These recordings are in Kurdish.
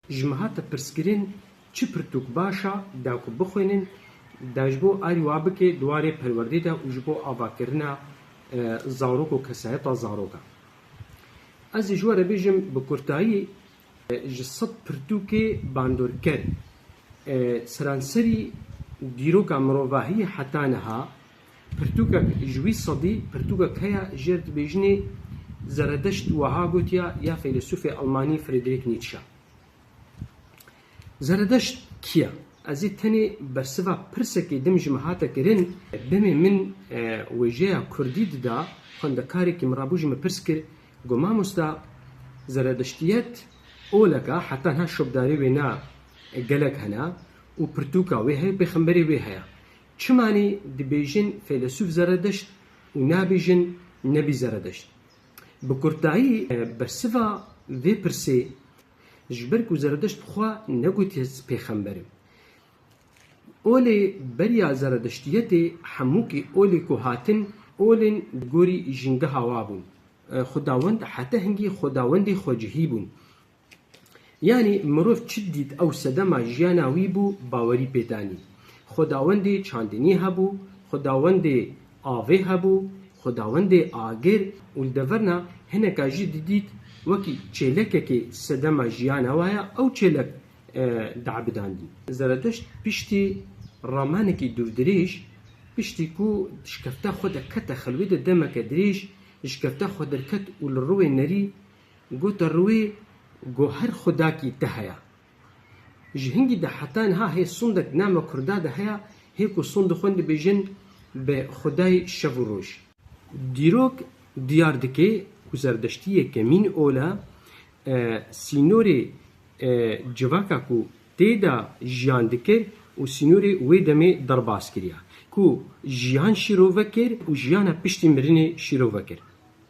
Ji me hate pirskirin çi pirtûk baş a da ku bixwînin da ji bo erî wa bike di warê perwerdê de û ji bo avakirina zarok û kesayeta zarok a. Ez ê ji we re bêjim bi kurtayî ji sed pirtûkê bandorker seranserî dîroka mirovahiyê heta niha, Pirtûkek ji wî sedî pirtûkek heye jêr dibêjinê Zeredeşt wiha gotiya ya feylesûfê elmanî Friedrich Nietzsche Zeredeşt kî ye? Ez ê tenê bersiva pirsekê din ji min hate kirin, demê min wêjeya kurdî dida xwendekarekî min rabû ji min pirs kir got Mamosta Zeredeştiyet olek e heta niha şopdarê wê ne gelek hene û pirtûka wê heye û pêxemberê wê heye Çimanî dibêjin feylesûf Zeredeşt û nabêjin Nebî Zeredeşt. Bi kurtayî bersiva vê pirsê, ji ber ku Zeredeşt xwe negotiye ez pêxember im. Olê beriya Zeredeştiyetê hemûkî olê ku hatin, olên di gorî jîngeha wa bûn. Xwedawend hete hingî xwedawendê xwecihî bûn. Yanî mirov çi dît ew sedema jiyana wî bû bawerî pê danî. Xwedawendê çandinî hebû, xwedawendê avê hebû, xwedawendê agir û li deverna hineka jî didît wekî çêlekekê sedema jiyana we heye ew çêlek diebidandî. Zeredeşt piştî ramanekî dûrdirêj, piştî ku di şikefta xwe de kete xelwê de demeke dirêj, di şikefta xwe derket û li rûê nerî Gota rûê go her xudakî te heya. Ji hingî de heta niha hê sondek di nama kurda de heya hê ku sond di xwendî bêjin bi xudayê şev û roj. Dîrok diyar dike ku zerdeştiyê kemîn ola e, sînorê e civaka ku tê de jiyan dikir û sînorê wê demê derbas kiriya ku jiyan şîrove kir û jiyana piştî mirinê şîrove kir.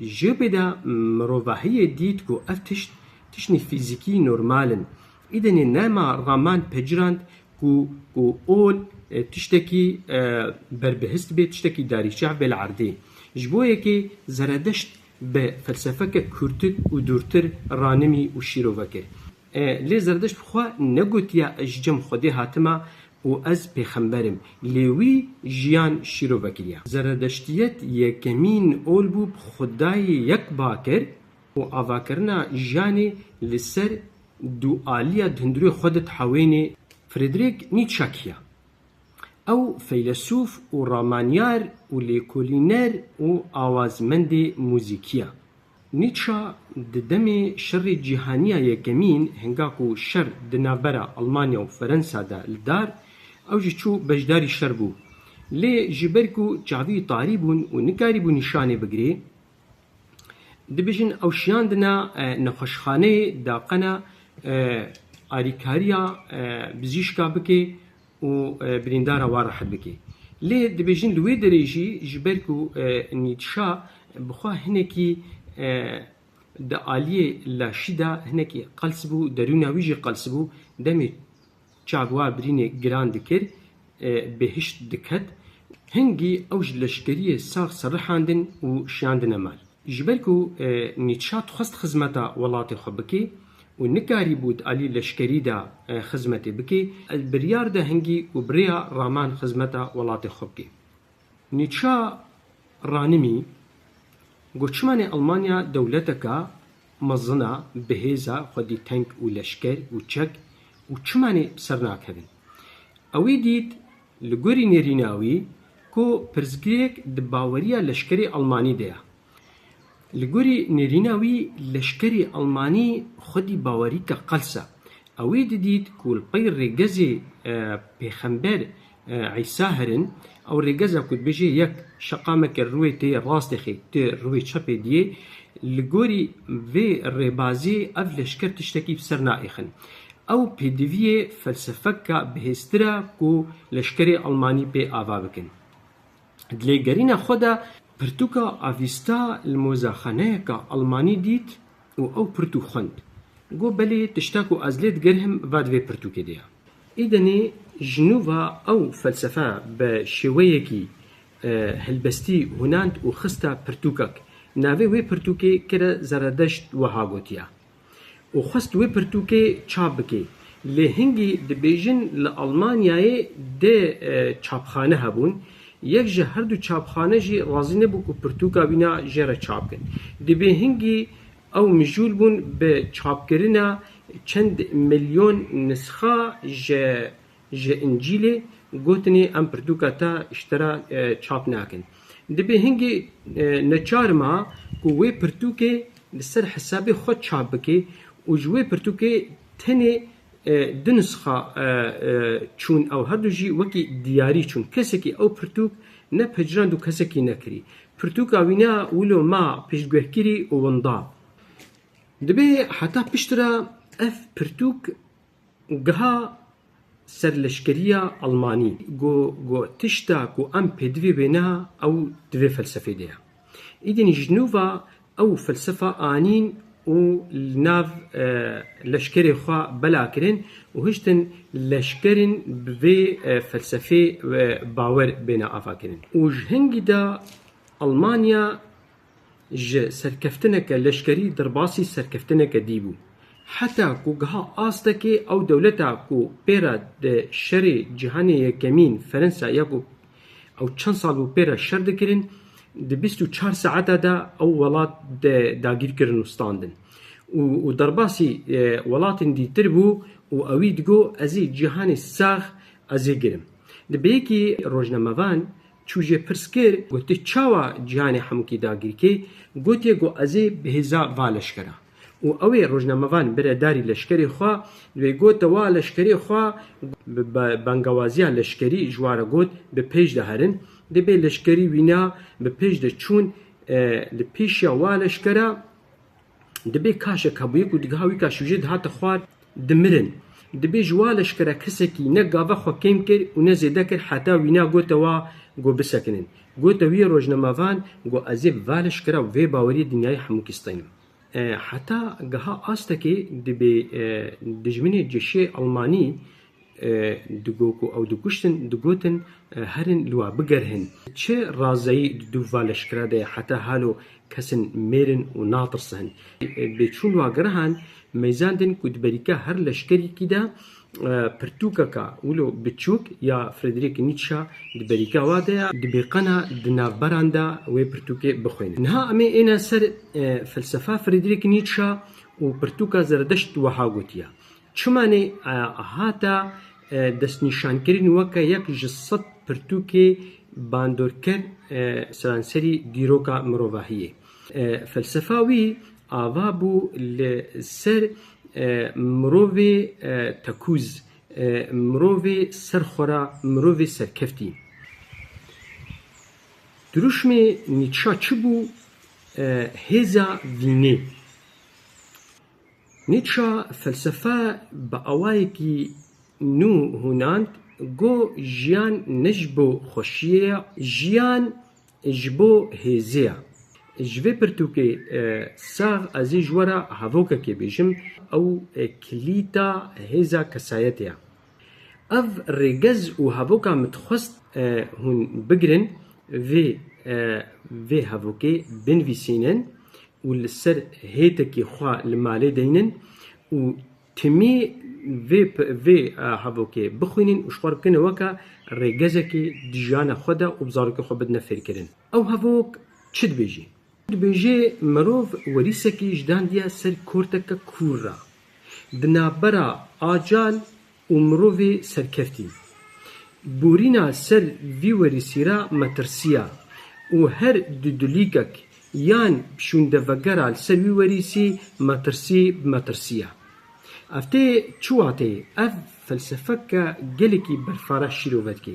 Ji bêda mirovahiyê dît ku ev tişt tiştên fîzîkî normal in. Îdenê nema Raman pecirand ku ku ol tiştekî berbihist bê, tiştekî darîçev bê li erdê. Ji bo yekê Zeredeşt bi felsefeke kûrtir û dûrtir ranimî û şîrove kir. Lê Zerdişt bi xwe negotiye ez ji cem Xwedê hatime û ez pêxember im, lê wî jiyan şîrov vekiriye. Zeredeştiyet yekemîn ol bû bi xwedayê yek bakir û avakirina jiyanê li ser dualiya di hundirûyê xwe de dihewêne. Friedrich Nietzsche kî ye? Ew feylesûf û ramaniyar û lêkolîner û awazmendê muzîkî ye. Nîtşe di demê Şerê Cîhanîya Yekemîn hinga ku şer di navbera Elmanya û Ferensa de li dar, ew jî çû beşdarî şer bû. Lê ji ber ku çavî tarî bûn û nikarîbû nîşanê bigirê, dibêjin ew şiyandine nexweşxaneyê da qena alîkarîya bizîşka bike, û birîndara wan rehet bike. Lê dibêjin li wê derê jî ji ber ku Nîtşa bi xwe hinekî di aliyê laşî de hinekî qels bû, derûna wî jî qels bû, demê çavwa birînê giran dikir, bi hişt diket. Hingî ew ji leşkeriyê sax serrixandin û şiyandine mal. Ji ber ku Nîtşa dixwest xizmeta welatê xwe bike û nikarîbû di alî leşkerî de xizmetê bike, biryar da hingî û bi rêya raman xizmeta welatê xwe bike. Nîtşa ranimî ku çimanê Elmanya dewleteke mezin a, bihêz a, xwedî tenk û leşker û çek û çimanê bi ser nakevin. Ew ê dît Li gorî nêrîna wî ku pirsgirêk di baweriya leşkerê Elmanî de ye. Li gorî nêrîna wî leşkerê Elmanî xwedî bawerîka qels e. Ew ê didît ku li pey rêgezê pêxember Îsa herin. Ew rêgez e ku dibêje yek şeqameke rûê tê rastexê ti rûê çepê diyê. Li gorî vê rêbazê ev leşker tiştekî bi ser naêxin. Ew pêdiviyê felsefeka bihêztir e ku leşkerê Elmanî pê ava bikin. Di lêgerîna xwe de pirtûka Avîsta li mozexaneyeka Elmanî dît û ew pirtûk xwend. Got belê tişta ku ez lê digerhim va di vê pirtûkê de ye. Îdenê ji nû ve ew felsefe bi şêweyekî helbestî hûnand û xiste pirtûkek. Navê wê pirtûkê kir e Zeredeşt wiha gotiye. û xwest wê pirtûkê çap bike. Lê hingî dibêjin li Almanyayê dê çapxane hebûn, yek ji herdu çapxane jî razî nebû ku pirtûka wî na jê re çap bikin. Dibê hingî ew mijûl bûn bi çapkirina çend milyon nisxa ji Ji Încîlê gotinê em pirtûka te ji te re çap nakin. Dibê hingê neçar ma ku wê pirtûkê li ser hesabê xwe çap bikê û ji wê pirtûkê tenê du nisxa çûn ew herdu jî wekî diyarî çûn. Kesekî ew pirtûk nepejirand û kesekî nekirî. Pirtûka wî ne wilo ma piştgûhkirî û winda. Dibê heta piştre ev pirtûk. Geha serleşkeriya Elmanî got tişta ku em pê divê wêne ew di vê felsefê de ye. Îdîn ji nû ve ew felsefa anîn û li nav leşkerê xwe bela kirin û hiştin leşkerên bi vê felsefê bawer bêne avakirin û ji hingî de Elmanya ji serkeftineke leşkerî derbasî serkeftineke dî bû. Heta ku giha astekê ew dewleta ku pê re di Şerê Cîhanê Yekemîn Fernsa ya ku ew çend sal bû pê re şer dikirin di bîst û çar saeta de ew welat dagîr kirin û standin. Û derbasî welatên dîtir bû û ewî digot, Ez ê cîhanê sax ez ê girim. Di bêyekî rojnamevan Çû jê pirs kir ku tu çawa cîhanê Hemûkî dagirkê, gotiye ku ez ê bihêza va leşkera. Û ew ê rojnamevan bire darî leşkerê xwe, di wê gota wa leşkerê xwe bi bangewaziya leşkerî ji wa re got bi pêş de herin. Di bê leşkerî wîna bi pêş de çûn li pêşiya wa leşkera. Dibê kaşek hebûye ku digiha wî ka şûjê dihate xwar dimirin. Dibê ji wa leşkere kesekî ne gava xwe kêm kir û ne zêde kir heta wîna gote wa ku bisekinin. Gote wî yê rojnamevan ku ez ê bi va leşkera û vê baweriyê dinyayê hemû kistînim. Heta giha astekê dibê dijminê ceşê Elmanî Digo ku ew dikuştin, digotin herin li we bigerhin. Çi razeyî di du va leşkera de ye heta halo kesin mêrin û natirsin. Bê çûn wa girahan mêzan din ku di berîka her leşkerîkî de pirtûkeka wilo biçûk ya Friedrich Nietzsche di berîka wa de ye. Dibê qana di navberan de wê pirtûkê bixwînin. Niha em ê êne ser felsefa Friedrich Nietzsche û pirtûka Zeredeşt wiha gotiye, Çimanê Ahata destnîşankirin weke yek ji sed pirtûkê bandorker seranserî dîroka mirovahiyê. Felsefa wî ava bû li ser mirovê tekûz, mirovê ser xwe ra, mirovê serkeftî. Dirûşmê Nîtşa çi bû? Hêza vînê. Nîtşe felsefe bi awayekî nû hûnand, got, Jiyan ne ji bo xweşiyê ye, jiyan ji bo hêzê ye. Ji vê pirtûkê sax ez ê ji we re hevokekê bêjim, ew kilîta hêza kesayetê ye. Ev rêgez û hevoka min dixwest hûn bigirin, vê vê hevokê binivîsînin û li ser hêtekî xwe li malê deynin û timî vê vê hevokê bixwînin û ji xwe re bikene weke rêgezekê di jiyana xwe de û bi zarokê xwe bidine fêrkirin. Ew hevok çi dibêjî? Dibêje mirov werîsekî ji dandiya ser korteke kûr re di navbera acal û mirovê serkeftî. Borîna ser vî werîsî re me tirsiya û her du dulîkek yan şûndevegera li ser wî werîsî metirsî bi me tirsiya. Ev tê çi wateyê? Ev felsefeke gelekî berfara şîrove dike.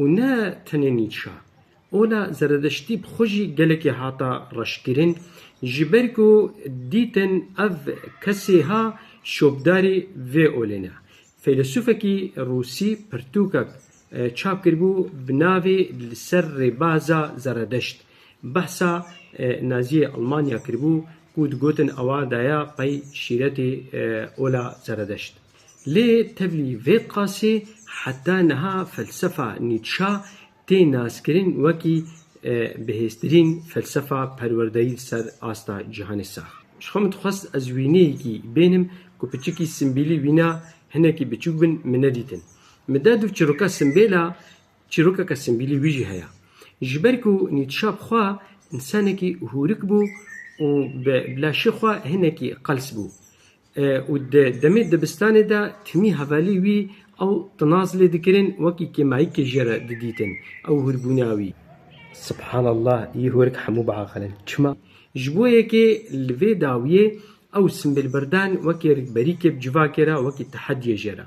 Û ne tenê Nîtşa. Ola Zeredeştî bi xwe jî gelekî hata reşkirin, ji ber ku dîtin ev kesê ha şopdarî vê olê ne. Feylesûfekî rûsî pirtûkek çap kiribû bi navê Li ser rêbaza Zeredeşt behsa Naziyê Elmanya kiribû ku digotin ewa daya pey şîretê ola Zeredeşt. Lê tevlî vê qasê heta niha felsefa Nîtşa tê naskirin wekî bihêztirîn felsefa perwerdeyî li ser asta cîhanê sax. Ji xwe min dixwest ez wîneyekî bênim ku piçikî simbîlî wîna hinekî biçûk bin min nedîtin. Min de du çîroka simbêl a, çîrokeke simbîlî wî jî heye. Ji ber ku Nîtşa bi xwe însanekî hûrik bû û bi laşê xwe hinekî qels bû. Û di demê dibistanê de timî hevalî wî ew tinaz lê dikirin, wekî kêmayikê jê re didîtin ew hûrbûna wî. Subhanallah yê hûrik hemû biaqilin. Çima? Ji bo yekê li vê dawiyê ew simbêlbirdan wekî rikberî kêb civakê re wekî tehediyê jê re.